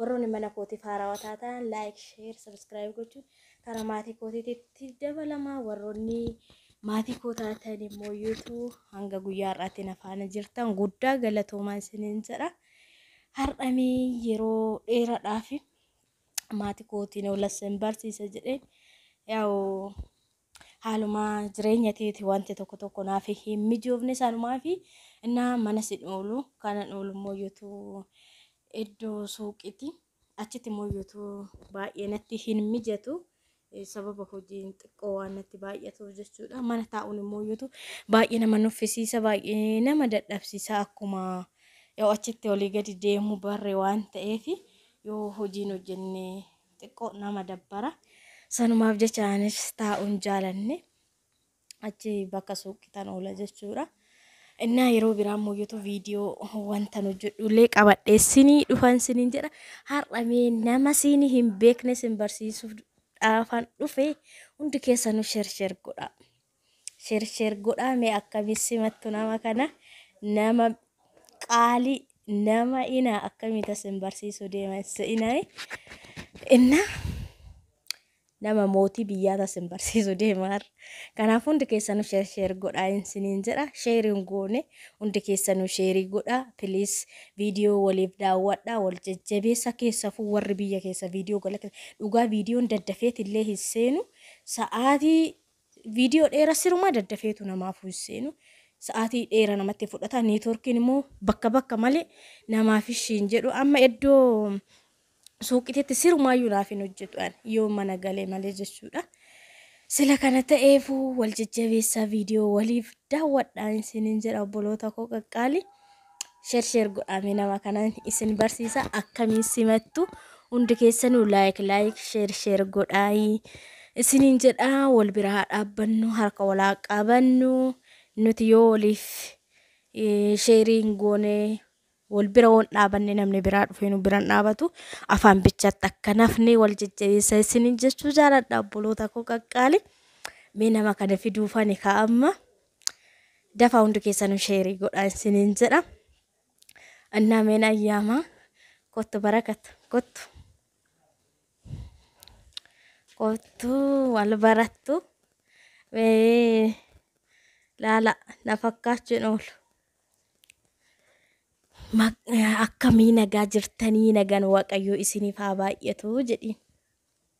Warroonni mana kootiif haarawa taataan like, share, subscribe gochuun karaa maatii kootiitti dabalamaa warroonni maatii koo taatan immoo YouTube hanga guyyaa har'aatti na faana jirtan guddaa galatoomaa isiniin jedha. Har'amee yeroo dheeraadhaaf maatii kootiin oolassan barsiisa jedheen yaa'u Haaluma jireenya teeti wanti tokko tokko naaf hin mijoofne sanumaafi innaa manas hin oolu. Kanan oolu immoo yotuu iddoo suuqiiti. Achitti immoo yotuu baay'ee natti hin mijatu. Eh, Sababa hojiin xiqqoo waan natti baay'atuuf jechuudha. Mana taa'uun immoo yotuu baay'ee nama nuffisiisa, baay'ee nama dadhabsiisa akkuma yoo achitti olii gadi deemu barre waan ta'eef yoo hojiin hojjenne xiqqoo nama dabbara. Sanumaaf jecha anis taa'uun jaalanne achi bakka suuqitan oola jechuudha. Innaa yeroo biraa immoo YouTube viidiyoo wantan hojjedhu illee qabadhee sinii dhufan sinin jedha. Har'a mee nama siin hin beekne sin barsiisuuf dhaafan dhufe hundi keessanuu sher sher godha. Sher sher godhaa mee akkami simattu nama kana nama qaali nama ina akkami tasin barsiisu deema insa inani inna nama mootii biyyaa tasin barsiisu deemaar kanaaf hundi keessanu sher sher godhaa insiniin jedha sheeriin goone hundi keessanu sheerii godhaa piliis viidiyoo waliif daawwadhaa wal jajjabeessa keessafuu warri biyya keessa viidiyoo galakkeessa dhugaa viidiyoon daddafeetillee hin seenu sa'aatii Video dheera sirumaa daddafeetu namaafuu hin seenu. Sa'aatii dheera namatti fudhata. Networkiin immoo bakka bakka malee namaaf ishii hin jedhu. Amma iddoo suuqititti sirumaayyuu naaf hin hojjetu ani yoo mana galee malee jechuudha. Sila kana ta'eefuu wal jajjabeessaa viidiyoo waliif daawwadhaa isiniin jedha obboloota koo qaqqaalii. Sheer sheer godhaame nama kanan isin barsiisa akkamiin simattu hundi keessanuu laayik laayik sheer sheer godhaayi isiniin jedha wal bira haa dhaabbannu harka wal haa qabannu nuti yoo waliif eh, sheeriin goone wal bira woon dhaabanne namni biraa dhufee nu biran dhaabatu afaan bichaatti akka nafne wal jajjabeessa isiniin jechuu jaaladha obboloota koo qaqqaali mee nama kana fiduufani kaa amma. Dafaa hundi keessanuu sheerii godhaa isiniin jedha. Annaa meen ayyaamaa kottu barakat kottu kottu wal barattu mee laala na fakkaachuu hin oolu. Ma- Akkamii nagaa jirtanii nagaan waaqayyoo isiniif haa baay'atu jedhiin.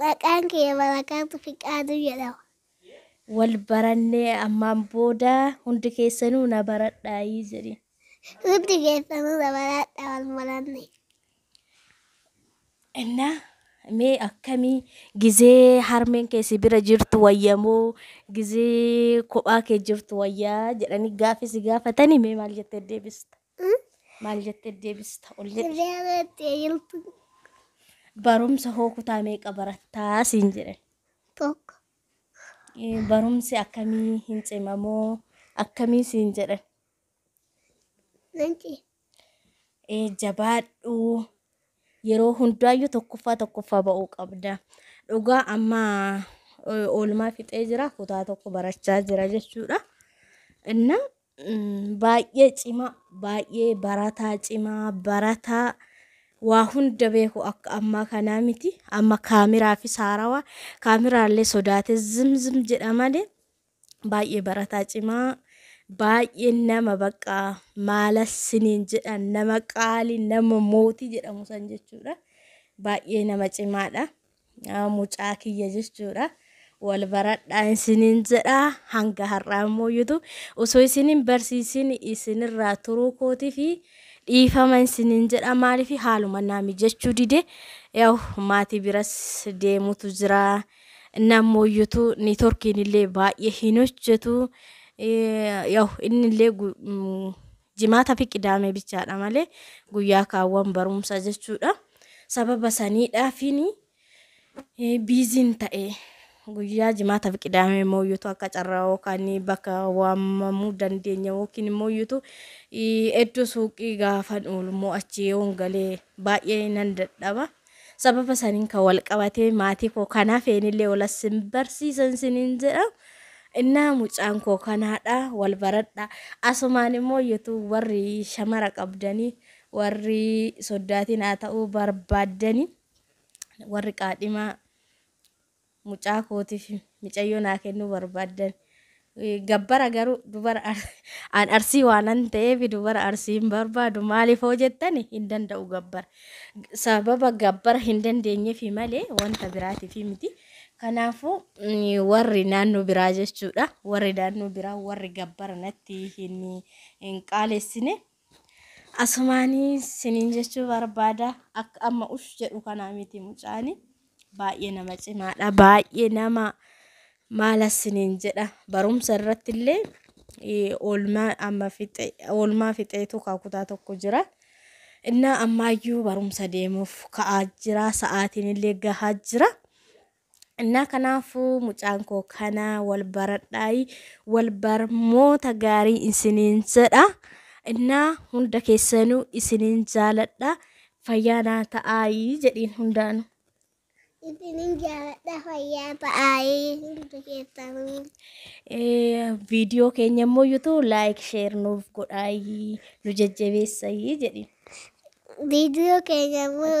Maqaan kiyya Barakaatu Fiqaaduu jedhama. Wal baranne ammaan booda hundi keessanuu na baradhaayi jedhiin. Hundi keessanuu na baradhaa wal baranne. Inna mee akkamii gizee harmeen kee si bira jirtu wayya moo gizee kophaa kee jirtu wayyaa jedhanii gaaffii si gaafatanii mee maal jettee deebista? Maal jettee deebista ol jedhi. Deebattee jirtu Barumsa hoo kutaa meeqa barattaa siin jedhe. tokko. Eh, Barumsi akkamii hin cimamoo akkamii siin jedhe. Nanci. Eh, Jabaadhu yeroo hundaayyuu tokkoffaa tokkoffaa ba'uu qabda. Dhugaa amma eh, oolmaa fixee jira kutaa tokko barachaa jira jechuudha. Inna baay'ee cimaa, baay'ee barataa cimaa, barataa waa hunda beeku akka ammaa kanaa miti. Amma kaamiraa fi saarawaa kaamiraallee sodaate zimzim jedha malee baay'ee barataa cimaa baay'ee nama bakka maala siniin jedhan nama qaalii nama mootii jedhamu san jechuudha. Baay'ee nama cimaadha. Yaa mucaa kiyya jechuudha. Wal baradhaa isiniin jedha hanga har'aa immoo yutu osoo isiniin barsiisin isinirraa turuu kootii fi dhiifama isiniin jedha maaliif haaluma naa mijachuu dide yaw maatii biras deemutu jira nammoo yutu niitorkiin illee baay'ee hin hojjetu yaw inni illee Jimaata fi Qidaamee bichaadha malee guyyaa kaawwan barumsa jechuudha. Sababa saniidhaafiin biiziin ta'e guyyaa jimaata fi Qidaamee mooyyuutu akka carraa yookaan bakka waamamuu dandeenya yookiin mooyyuutu iddoo suuqii gaafan oolu immoo achi yoon galee baay'ee nan dadhaba. Sababa saniin kan wal qabatee maatii koo kan hafeen illee wal as hin barsiisan siniin jedha. Innaa mucaan koo kanaadha wal baradha. Asumaan immoo YouTube warri shamara qabdanii warri soddaatiin haa ta'uu barbaaddanii warri qaadhimaa mucaa kootif micayyoo naa kennuu barbaaddan gabbara garuu dubara ar, an arsii waanan ta'eef dubara arsii hin barbaadu maaliif hoo jettan hin danda'u gabbara G- sababa gabbara hin dandeenyefi malee wanta biraatifi miti kanaafuu mm, warri naannoo biraa jechuudha warri naannoo biraa warri gabbara natti hin hin qaalessine Asumaani sinin jechuu barbaada akka amma ush jedhu kanaa miti mucaani baay'ee nama cimaadha baay'ee nama maala sinin jedha barumsa irratti illee eh, oolmaa amma fixe oolmaa fixeetu kaa kutaa tokko jira innaa ammaayyuu barumsa deemuuf ka'aa jira sa'aatiin illee gahaa jira Innaa kanaafuu mucaan koo kana wal baradhaayi wal barmoota gaarii isiniin jedha. Innaa hunda keessanuu isiniin jaaladha. Fayyaa naa ta'aayi jedhiin hundaanu. Isinin jaaladha fayyaa ta'aayi hundi keessanuu. Eh, Viidiyoo keenya immoo yuutuu laayik sheer nuuf godhaayi nu jajjabeessayi jedhiin. Viidiyoo keenya immoo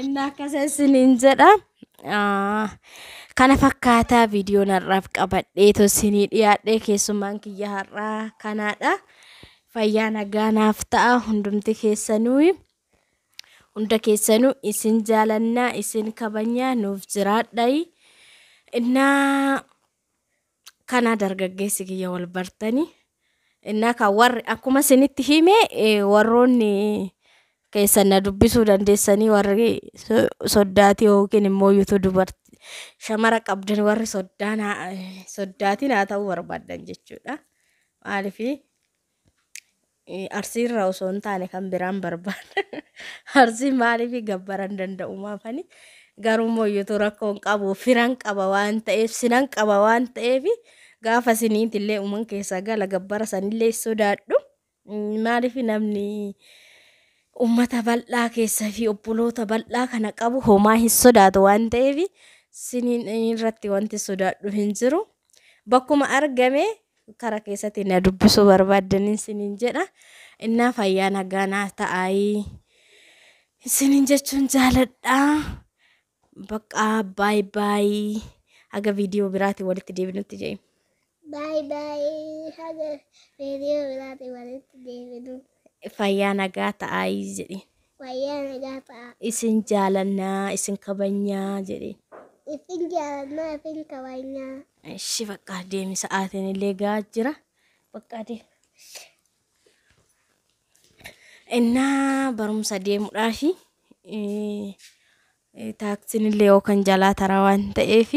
Inni akkas isiniin jedha. Kana fakkaataa viidiyoon har'aaf qabadhee tosinii dhiyaadhee keessummaan kiyya har'aa kanaadha. Fayyaa nagaa naaf ta'a hundumti keessanuu hunda keessanuu isin jaalannaa isin kabajnaa nuuf jiraadhayi. Innaa Kanaa dargaggeessi kiyya wal bartanii innaa kan warri akkuma isinitti hime eh, warroonni keessan na dubbisuu dandeessanii warri so- soddaatii yookiin immoo yuutuu dubartii shamara qabdan warri soddaan haa- soddaatiin haa ta'uu barbaaddan jechuudha. Maaliif Arsii irraa osoo hin taane kan biraan barbaada. Arsii maaliif gabbaran danda'u maafani? Garuu immoo iyyutu rakkoon qabu firan qaba waan ta'eef sinan qaba waan ta'eef gaafa siniiti illee uuman keessaa gala gabbara sanillee sodaadhu. Maaliif namni uummata bal'aa keessa fi obboloota bal'aa kana qabu homaa hin sodaatu waan ta'eef siniin irratti wanti sodaadhu hin jiru. bakkuma argame kara keessatti na dubbisuu barbaaddanin sinin jedha innaa fayyaa nagaa naa ta'aayii sinin jechuun jaaladha baqqaa baay baayii haga viidiyoo biraatiin walitti deebinutti jedhe. Baay baay haga viidiyoo biraatiin walitti deebinu. fayyaa nagaa ta'aayii jedhe. Fayyaa nagaa ta'aa. Isin jaalanna isin kabajna jedhiin. Isin jaalanna isin kabajna. Eshi baqqaa deemi sa'aatiin illee ga'aa jira. Baqqaa deemi. Innaa barumsa deemudhaafi Taaksiin illee yoo kan jalaa tara waan ta'eef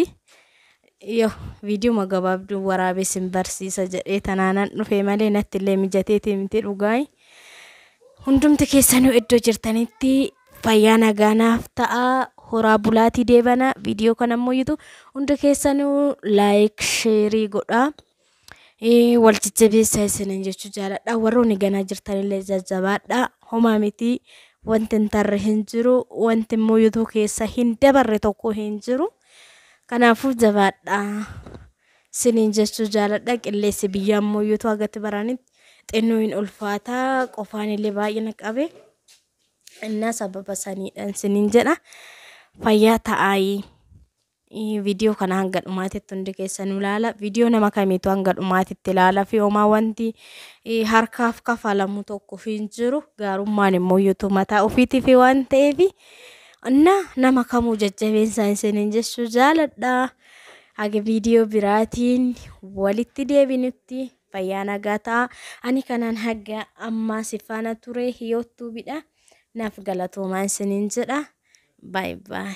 yoo viidiyuma gabaabduu waraabee sin barsiisa jedhee tanaanan dhufee malee natti illee mijateetii miti dhugaay. Hundumti keessanuu iddoo jirtanitti fayyaa nagaanaaf ta'a horaa bulaatii deebana viidiyoo kana immoo yitu hundi keessanuu laayik sheerii godhaa. Ee, wal jajjabeessaa isiniin jechuu jaaladha. Warroonni ganaa jirtanillee jajjabaadha. Homaa miti. Wanti hin tarre hin jiru. Wanti immoo youtoo keessa hin dabarre tokko hin jiru. Kanaafuu jabaadha. Isiniin jechuu jaaladha. Qilleessi biyyaa immoo youtoo agatti baranitti xinnoo hin ulfaata. Qofaanillee baay'ee na qabe. Innaa sababa saniidhaan isiniin jedha. Fayyaa ta'aayii. Viidiyoo kana hanga dhumaatitti hundi keessanuu ilaala. Viidiyoo nama kamiitu hanga dhumaatitti ilaala fi homaa wanti harkaaf kafalamu tokko hin jiru. Gaarummaan immoo yuutuu mataa ofiitiif waan ta'eef na nama kamuu jajjabeessaan isiniin jechuu jaaladha. Haga viidiyoo biraatiin walitti deebinutti fayyaa nagaa ta'a. Ani kanaan haga ammaa si faana ture hiyoottuubidha. Naaf galatoomaa isiniin jedha. Baay baay.